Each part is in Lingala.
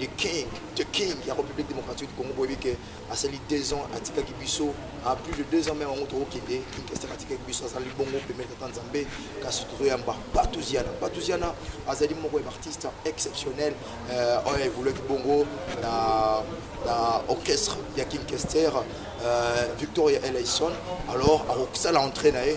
The king, the king ya Republique Democratique du Congo boyebi ke asali deux ans atikaki biso a plus de deux ans meme yango tokokende Kinshasa atikaki biso azali bongo pemele tata Nzambe kasi tozoyamba Patuziana Patuziana azali moko ya baartiste exceptionnel euh, oyo evoluaki bongo na, na orchestre ya King Kester euh, Victoria Eleison alors akosala entrée na ye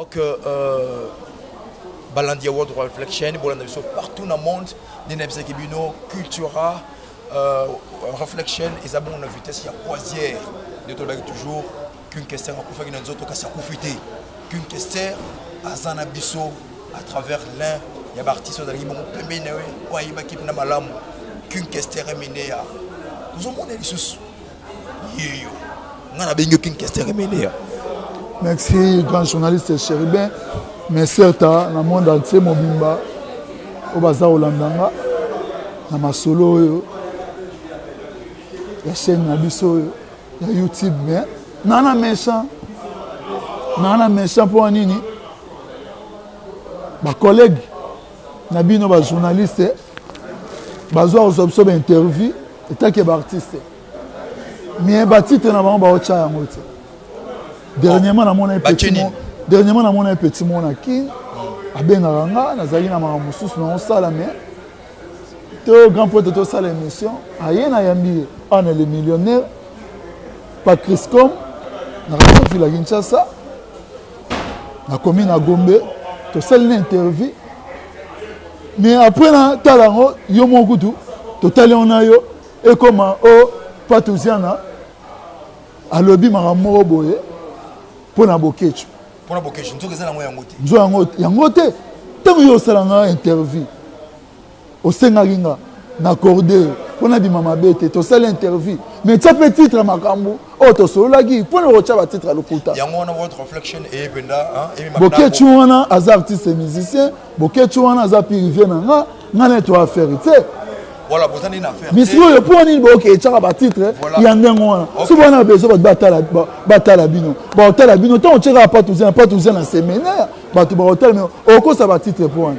Ok euh, balandi ya World Reflection bolanda biso partout na monde nde nayebisaki bino cultura euh, reflection eza bongo na vitesse ya croisière nde tolobaki toujours qu'une kester akufaki na nzoto kasi akufi te qu'une kester aza na biso à travers l'un ya baartiste oyo azalaki bongo pembeni na ye oyo ayebaki mpena malamu qu'une kester emeneya tozomona lisusu nga nabengi yo king kester emeneya merci grand journaliste chéribin mais certa na monde entier mobimba oyo baza kolanda nga na masolo oyo ya chaîne na biso oyo ya youtube mais naa na méchant naa na méchant mpo ya nini bacollègue na bino ba journaliste bazwa kozwa biso bainterview etake baartiste mais batitre na bango baotya yango te dernièrement namonai dernièrement namonai petit mona kin abengaka nga nazalaki na makambo mosusu na osala mais to grand pote tosala émission aye nayambi ye awa na le millionnaire patrice com na radio vila kinshasa nakomi na gombe tosali na interview mais après natala yango yo moko kutu totali yango na yo ekoma o oh, patuziana alobi makambo moko boye mpo na bokecu mpo na bokecu nzoka eza nango yango te nzo yango yango te ntango yo osala nga interview Osengaki nga n'accorde po nabima mabe te. Tosali interview mais tia pe titre ya makambu oyo tosololaki. Pona okotia ba titre ya lokuta. Yango wana world reflection eye penda emema nako. Boketshu wana aza artiste musicien. Boketshu wana aza pirive na nga. Nga naye to affaire tse. Voilà, boza nde na affaire. Mais sikoyo po nini boke etiaka ba titre ya ndenge wana? So bana na besoin bato batala batala bino. Ba otala bino tango otiaka patuze na patuze na seminaire bato ba otala mais okosa ba titre po wana.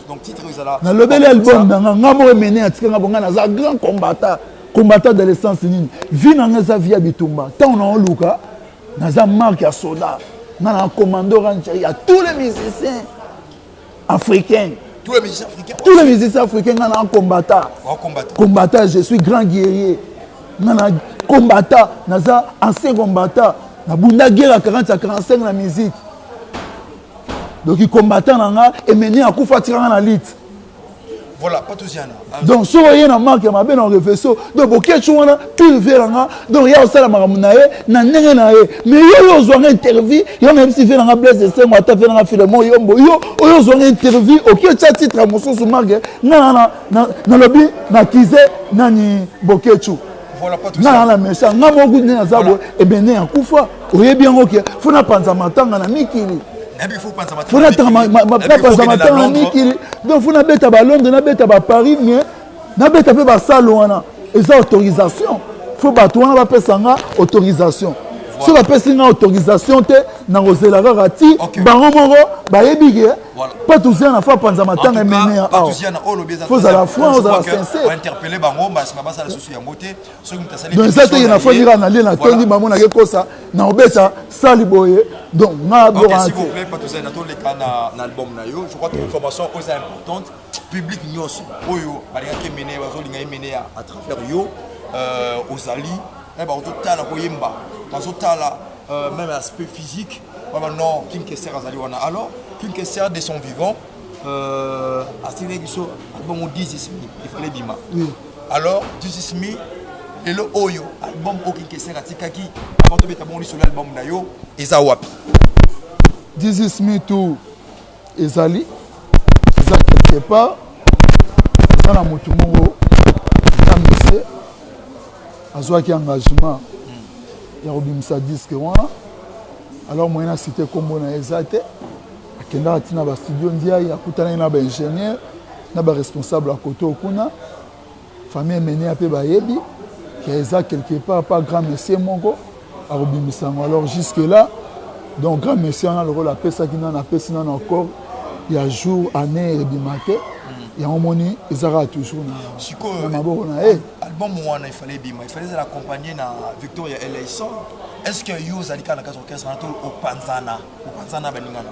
nalobeli album na nga nga moko mene atika nga bonga naza grand combatant combatant de l'essence nini vi na nga eza vi ya bitumba ntango na oluka naza marke ya soda nga na commando rancher ya tous les musiciens africains tous les musiciens africains tous les musiciens africains nga na combatant combatant je suis grand guerrier nga na combatant naza ancien combatant nabunda guerre ya 40 ya 45 na musique donc combattant na nga emeni akufa atika nga na lite voilà pas tous yana donc soki oye na marke ya mabe na reveso donc bokeci wana pire vie na nga donc ya osala makambo na ye na ndenge na ye mais yo oyo ozwanga interview yo nayebisi vie na nga blaise esengo ata vie na nga filemo yombo yo oyo ozwanga interview okieca titre ya mosusu marke nga nalobi na kize nani bokeci nga na na mesa nga moko nde naza boye ebende ya kufa oyebi yango ke fo napanza matanga na mikili fo napanza matanga na mikili donc fo nabeta balondre nabeta baparis mais nabeta mpe basale wana eza autorisation fo bato wana bapesa nga autorisation soki bapesi nga autorisation te nakozela kaka ti bango moko bayebi ke Voilà. Patuziana fa panza matanga emeneya awa. Patuziana oyo lobi eza. Faut zala franc, faut zala sincère. Ba interpeller bango mbasi na basala susu yango te. Soki mutu asali. Donc eza te na fa nira na lie na tondi ba mona ke kosa na obeta sali boye. Donc nga bo Okay, s'il vous plaît, Patuziana to leka na na album na yo. Je crois que information oyo eza importante. Public nyonso oyo balingaki emeneya bazolinga emeneya à travers yo. Euh, ozali eh, bazotala koyemba bazotala euh, même aspect physique wana non king kester azali wana alors king kester de son vivant euh, asili biso album 10 ismi efale ebima alors 10 ismi lelo oyo album oyo king kester atikaki avant tobeta bongo lisolo album na yo eza wapi 10 ismi tout ezali eza quelque part eza na motu moko kamese azwaki engagement ya kobimisa diske wana alors moyen na site nkombo na ye eza te akendaka ntina bastudio ndiaye akutanaki na baingénieur na baresponsable ya koto kuna Famille Emeneya pe bayebi que eza quelque part pa grand monsieur moko akobimisa yango alors jusque là donc grand monsieur wana lokola apesaki nanu apesi nanu accord ya jour année ebima te yango omoni eza kaka toujours na sikoyo maboko na ye album wana efale ebima efale ezala accompagne na victoria eleison est ce que yo ozali kaka na kati orchestre wana to opanzana opanzana baninga na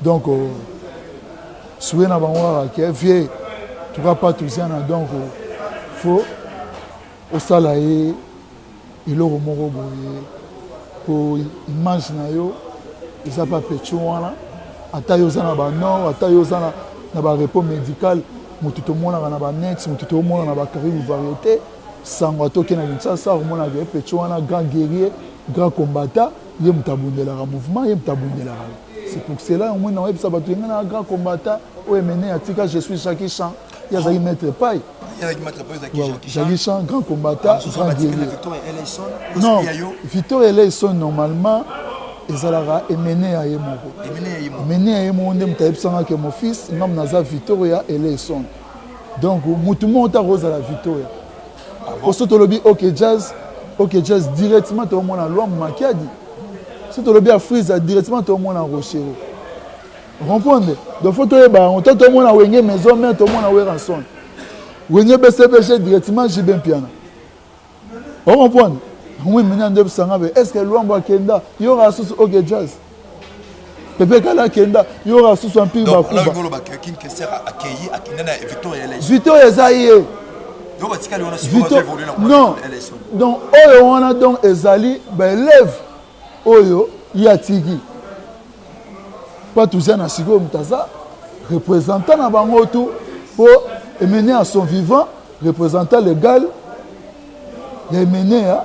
Donc souhait na bango kaka ke vieux tuka patuziana donc fo osala ye eloko moko boye po image na yo eza pa pecho wana ata yo oza na ba nord ata yo oza na ba repos medical motu tomonaka na ba net motu toomona na ba carrière variété sango atoke na kinshasa akomonaka ye pecho wana grand guerrier grand combata Ye moto abundelaka mouvement, ye moto abundelaka. C'est pour cela omoni na oyebisa bato yenga na grand combattant oyo Emeneya atika je suis Jackie Chan. Ye azalaki maître pai. Jackie Chan, grand combattant, grand guerrier. Non, Victor Eleison normalement ezalaka emene ya ye moko emene ya ye moko nde moto ayebisanga ke mon fils ngambo naza victoria eleison donc motu moko te akozala victoria po so tolobi ok jazz ok jazz directement toomona lwambo makiadi so tolobi ya frisa directement toomona rochero comprendre donc fo toyeba yango to tomona wenge maison mare tomona weranson wenge bcbg directement jibe mpiana ocomprendre oui maintenant nde bisanga be est ce que lwambo akenda yoraka susu ok jazz pepe kala akenda yora susu ampire bakubavitor eza ye non donc oyo wana donc ezali baelève oyo ye atiki mpo toza na sikoyo moto aza représentant na bango tu mpo emene ya son vivant représentant légal ya emene ya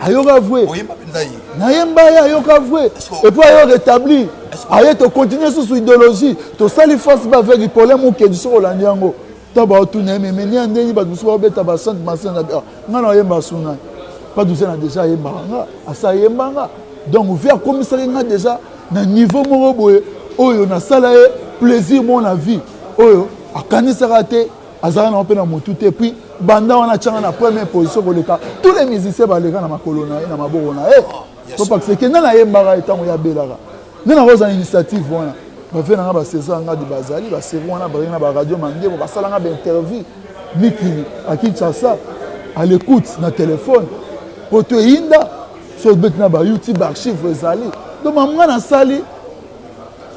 ayoka vue nayemba ye ayoka vue epuis ayo rétablir aye tocontinue susu idéologie tosali face ba avec ipole mokedi soki olandi yango ta baotuna ye memeni ya ndenge bato mosusu baobeta basante masene ah, ngai nayemba suna paduze na deja ayembaka nga asi ayemba nga donc vi akomisaki nga deja na niveau moko boye oyo nasala ye plaisir mona vie oyo akanisaka te azalaka nango mpe na motu te puis banda wana atyanga na première position koleka tous les musiciens baleka na makolo na ye na maboko na ye topakiseke nde nayembaka ye ntango ye abelaka nde nakozala initiative wana bave nanga baseza ngadi bazali basevi wana bazali na baradio mandebo basalanga bainterview mikili a kinshasa à l'écoute na telefone mpo to eyinda so obeti na bayoutube archive ezali donc mamga nasali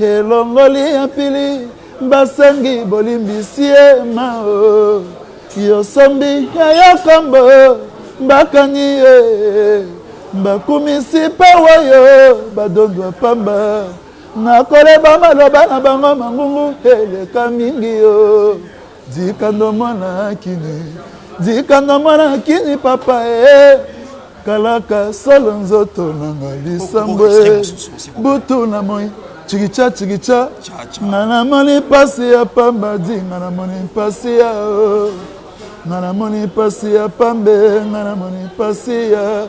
Elongoli ya mpili basengi bolimbisi ye mao yosombi ya yokombo bakangi ye bakumisi mpe wayo badondwa pamba nakoleba maloba na bango mangungu eleka mingi yo Dikando mwana kini Dikando mwana kini papa eh Kalaka solo nzoto nanga lisambo eh Butu na moi chikicha chikicha Nga na moni pasi ya pamba di Nga na moni pasi ya oh Nga na moni pasi ya pambe Nga na moni pasi ya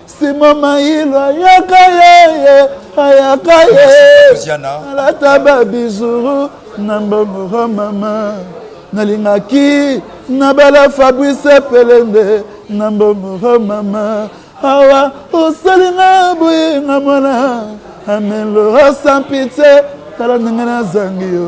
Sima Mayilo ayaka yeye ayaka yeye alata ba bizuru na mbongo oh mama nalingaki nabala Fabrice Pelende na mbongo oh mama awa osali nga boye nga mwana amelo oh, sans pitié tala ndenge nazangi yo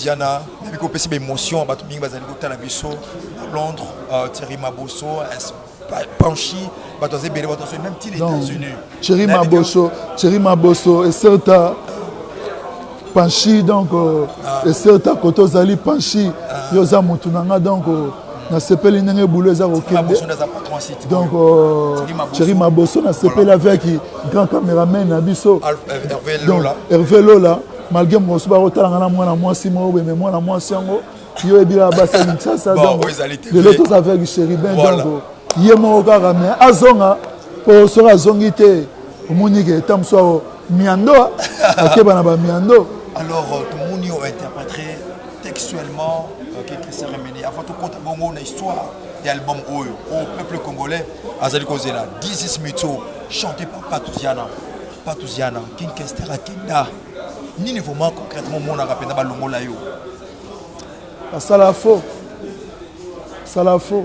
Diana, mais biko pesi émotion bato mingi bazali kotala biso à Londres, euh, Thierry Mabosso, Panchi, bato azali bele bato même ti les États-Unis. Thierry Mabosso, Thierry Mabosso et certains Panchi donc euh, ah. et certains koto zali Panchi, ah. yo za mutu nanga donc euh, nasepeli ndenge boulot eza kokende donc cheri euh, maboso nasepeli avec grand cameraman na biso herve lola malgré mokosu bakotalanga na mwana mwasi moko boye me mwana mwasi yango yo ebila basi ya kinshasa donc lelo toza avec chéribin donc ye moko kaka me azonga mpo soki azongi te omoni ke ta mosusu Miando akeba na ba miando. Alors euh, tomoni o interpréter textuellement euh, que Christian Remedi avant tout compte bongo na histoire ya album oyo au peuple congolais azali kozela This is Mito chanté par Patuziana Patuziana King Kester Akenda nini vraiment concrètement omonaka mpenza balongola yo basala faux basala faux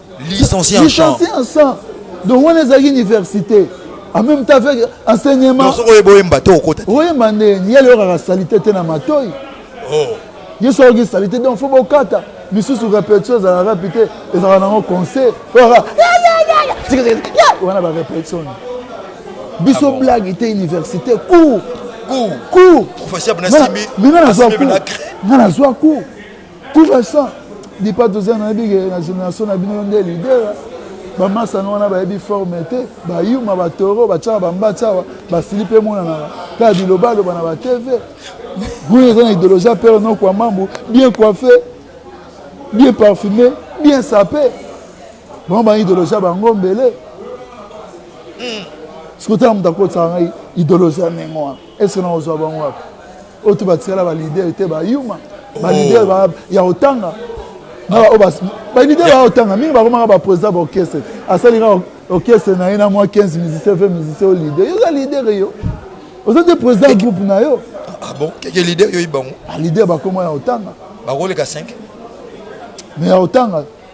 licencié en chant licencié en chant donc wana ezalaki université en même temps avec enseignement soki oyeba oyemba te okota oyemba nde nini yale oyokaka salite te na matoi oh. ye soki oyoki salite donc fo bokata misusu répétition ezalaka rapi te ezalaka nango conseil oyaka wana barépétition biso ah blague te université cour cour cour professeur bnasimbi bino nazwa cour nga nazwa cour Pour l'instant, dipa toza na yebi na génération na bino nde leader bamasano wana bayebi forme te bayuma batoro batyaka bambatsi awa basili mpe emonanaka kaka bilobaloba na batv oyo eza na idéologie ya pere noko ya mambu bien coiffe bien parfume bien sape bango bana idéologie ya bango mbele hmm. sikoyo tala moto akotisaka ngai idéologie ya ndenge wana ese nakozwa bango wapi oyo to batikala ba leader te ba yuma ba oh. leader ba ya otanga na ba obas ba leader ba otanga mingi ba komaka ba président ba orchestre asali ka orchestre na ye na mwa 15 musicien fait musicien au leader yo za leader yo oza te président groupe na yo ah bon keke leader yo ibango ah, leader ba koma ya otanga ba koleka 5 mais ya otanga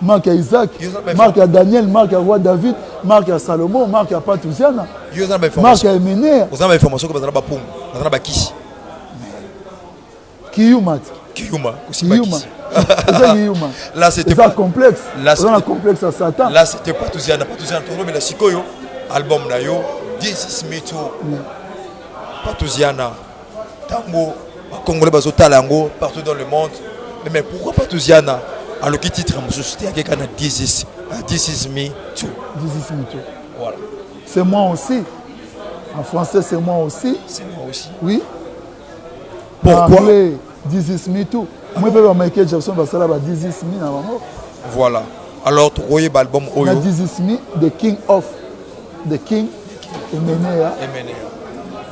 marke ya isaac marke ya daniel marke ya roi david marke ya salomon marke ya patuziana marke ya emener oza na bainformation ke baza na bapungu baza na bakisi kiyuma te kiyuma kiyuma eza kiyuma eza complexe oza na complexe ya satan la c'était patuziana patuziana tolobela sikoyo album na yo this is me too mm. patuziana tango ba congolais bazo tala yango partout dans le monde mais pourquoi pas tuziana aloki titre mosusu te akeka na this is uh, this is me too this is me too voilà c'est moi aussi en français c'est moi aussi c'est moi aussi oui pourquoi dizis mi tout moi mpe ba michael jackson basala ba dizis mi na bango voilà alors tokoyeba album oyo na dizis mi the king of the king emeneya emeneya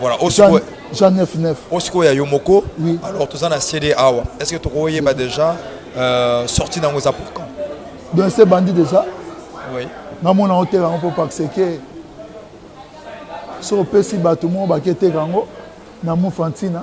voilà osikoyo jean 99 osikoyo ya yo moko oui. alors toza na cd awa est ce que tokoyeba oui. déjà euh, sorti nango eza pour quand donc se bandi déjà oui. namona oteka yango mpo pakseke so opesi bato moko baketeka yango na mufa ntina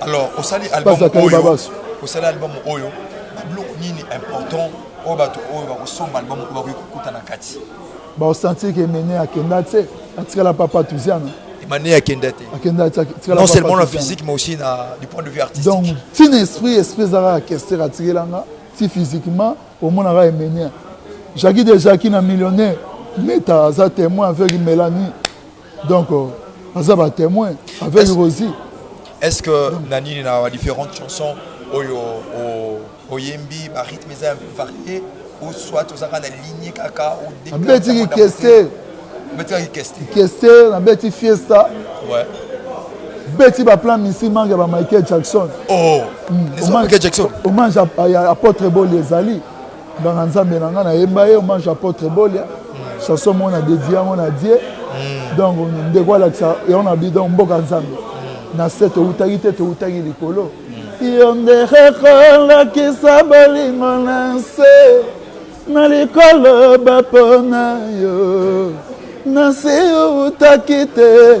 alors osali album oyo osali album oyo babiloko nini important oyo bato oyo bakosomba album oyo bakoki kokuta na kati baosentir ke mene akenda te atikala papa tuziana emane akenda te akenda te non seulement na physique mais aussi na du point de vue artistique donc ntina esprit esprit ezalaka kester atikelanga ti physiquement omonaka emenia jaki de jaki na millionnaire meta aza témoin aveugle mélanie Donc, euh, aza ba témoin avec est Rosie. Est-ce que Donc. na nini na différentes chansons oyo oyembi ba rythme eza un peu varié ou soit ozaka na ligne kaka ou depuis abeti ki keste abeti ki keste keste na beti fiesta ouais beti ba plan misi manga ba Michael Jackson oh mm. Michael Jackson hommage à, à, à apôtre Boli ezali Nganga Nzambe na nga na yemba ye hommage apotre Bolia chanson moko na dedie yango na die hmm. donc ndeko alakisa yango na bi donc mboka Nzambe hmm. na se towutaki te towutaki likolo hmm. yo nde rekolakisa bolingo na nse na likolo bapona yo na se owutaki te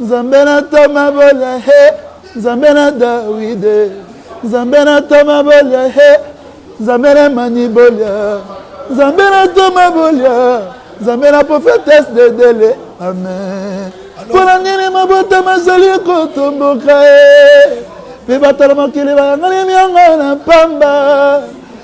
Nzambe na toma bolia he Nzambe na Dawide Nzambe na toma bolia he Nzambe na mani bolia Nzambe na toma bolia Nzambe na prophetesse de dele amen mpo na nini mabota mazali kotomboka ye mpe bato na mokili bayangani myango na mpamba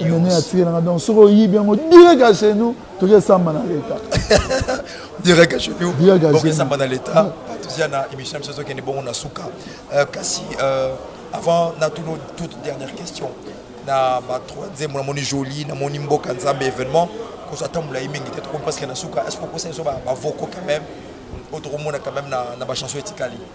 nene atikelanga donc soki oyibi yango direct ya chez nous toki esamba na leta direct ya chez nous boki esamba na leta tozia na émission ya biso ezokende bongo na suka euh, kasi euh, avant na tuno toute dernière question na batroi nzembo namoni joli namoni mboka nzambe événement kozwa tambola ye mingi te tokomi presque na suka est ce que okosa biso bavoko quand même oyo tokomona quand même na bachanson etikali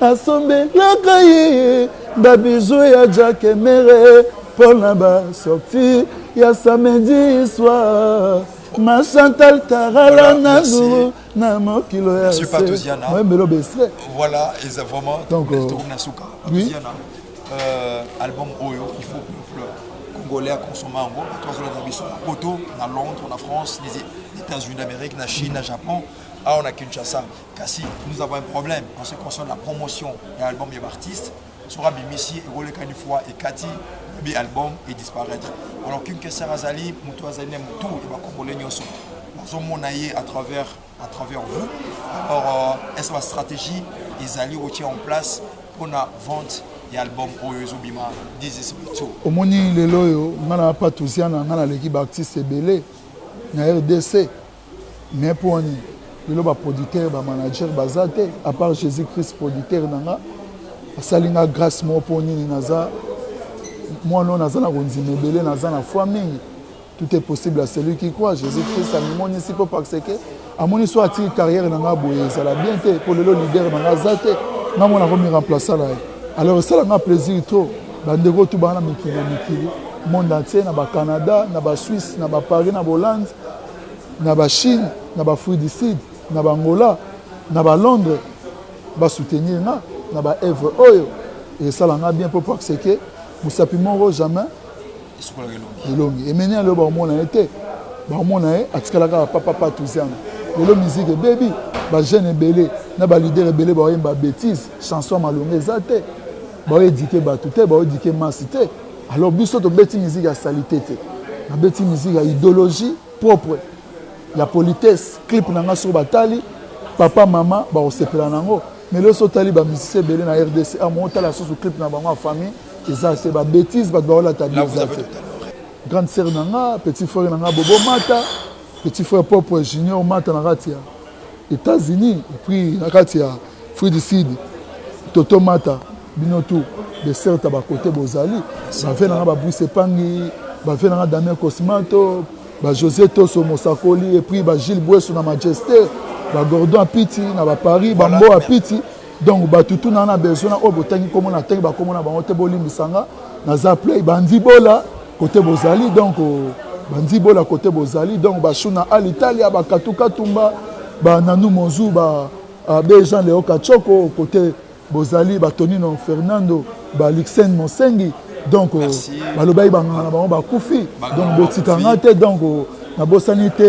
Nasombelaka ye ba bijoux ya Jack Emery mpo na ba sorties ya samedi soir. Ma Chantal Tarala voilà, Nanou na mokilo ya Monsieur Patosiana. Moi melo bestre. Voilà, et ça vraiment donc euh, na suka. Patosiana. Euh, album Oyo, il faut peuple congolais à consommer en gros. Toi sur la biso na Poto, na Londres, na France, les États-Unis d'Amérique, na Chine, na Japon, ah on a Kinshasa. Kasi nous avons un problème en ce concerne la promotion ya album ya ba artistes soki abimisi ekoleka une fois ekati lobi album e disparaître alors King Kester azali moto azali na motu ya ba congolais nyonso nazomona ye à travers à travers vous alors euh, est-ce ba stratégie ezali kotia en place mpona vente ya album oyo ezobima dizisbito omoni lelo oyo ngai na bapatusiana ngai naleki baartiste ebele na rdc Mais pona nini lelo ba producteur ba manager baza te a part Jesus Christ producteur na nga asali nga grace moko po nini naza mwana oyo naza na kondima ebele naza na foi mingi tout est possible à celui qui croit Jesus Christ amimonisi po parce que amoni so atiki carrière na nga boye ezala bien te po lelo leader na nga aza te nga mwana komi remplacer na ye alors esala nga plaisir trop bandeko tubana mikili na mikili monde entier na ba Canada na ba Suisse na ba Paris na ba Hollande na ba chine na ba fruit du sud na ba angola na ba londre ba soutenir nga na ba evre oyo esala nga bien po par ce que mosapi moko jamais elongi emeni ya lelo bakomona ye te bakomona ye atikala kaka papapa tuziana lelo miziki ebebi bajeune ebele na balider ebele baoyemba bétise chanson ya malonga eza te baoedike bato te baoedike masi te Alors biso tobeti musique ya salite te. Nabeti musique ya idéologie propre ya politesse. Clip na nga soki batali papa mama bakosepela na yango. Mais lelo soki otali ba musiciens ebele na RDC, ah mo otala susu clip na bango ya famille eza se ba bêtises bato baolata bien eza te. Grande sœur na nga, petit frère na nga Bobo Mata. Petit frère propre junior mata na kati ya Etats-Unis et puis na kati ya Free du Sud Toto mata bino tout de certes à ba côté bozali ba vie nanga ba Bruce Pangi ba vie nanga Damien Cosmato ba José Toso Mosakoli et puis ba Gilles Buesu na Majesté ba Gordon Apiti na ba Paris ba Mbo Apiti Donc batu tout na na besoin na oyo botangi kombo na tangi ba kombo na bango te bolimbisa nga naza play banzi bola kote bozali donc banzi bola kote bozali donc ba shuna al italia ba katu katumba ba nanu monzu ba ah, be jean leo kachoko kote bozali ba tonino fernando ba luxen monsengi donc balobaki banganga na bango bakufi donc botika nga te donc nabosani te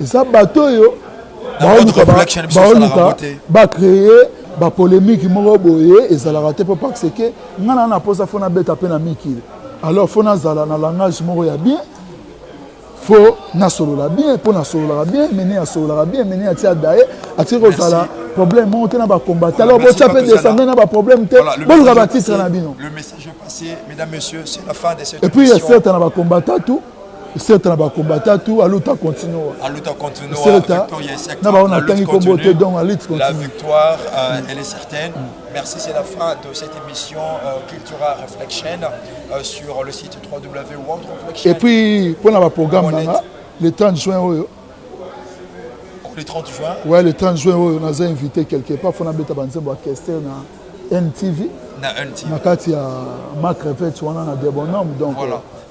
eza bato oyo baoluka bacreye bapolemiki moko boye ezalaka te mpo parce ke ngai naa na mposa fo nabeta mpe na mikili alors fo nazala na langage moko ya bien fo nasolola bien mpo nasololaka bien mene asololaka bien mene atia daye atiki kozala problème moko te na bacombata alors botya mpe descende na baproblème te boluka batitre na bino epuis ya certa na bacombata tout Certes na ba combattants tout aluta continua. Aluta continua. Certes na ba on atangi kombo te donc aluta continua. La victoire euh, mm. elle est certaine. Mm. Merci, c'est la fin de cette émission euh, Cultura Reflection euh, sur le site www.worldreflection. Et puis pour le programme nanga le 30 juin oyo. Oh, le 30 juin. Ouais, le 30 juin oyo naza invité quelque part fona beta banzembo ya Kester na NTV. Na NTV. Na kati ya Marc Revets wana na Debonhomme donc. Voilà. Euh,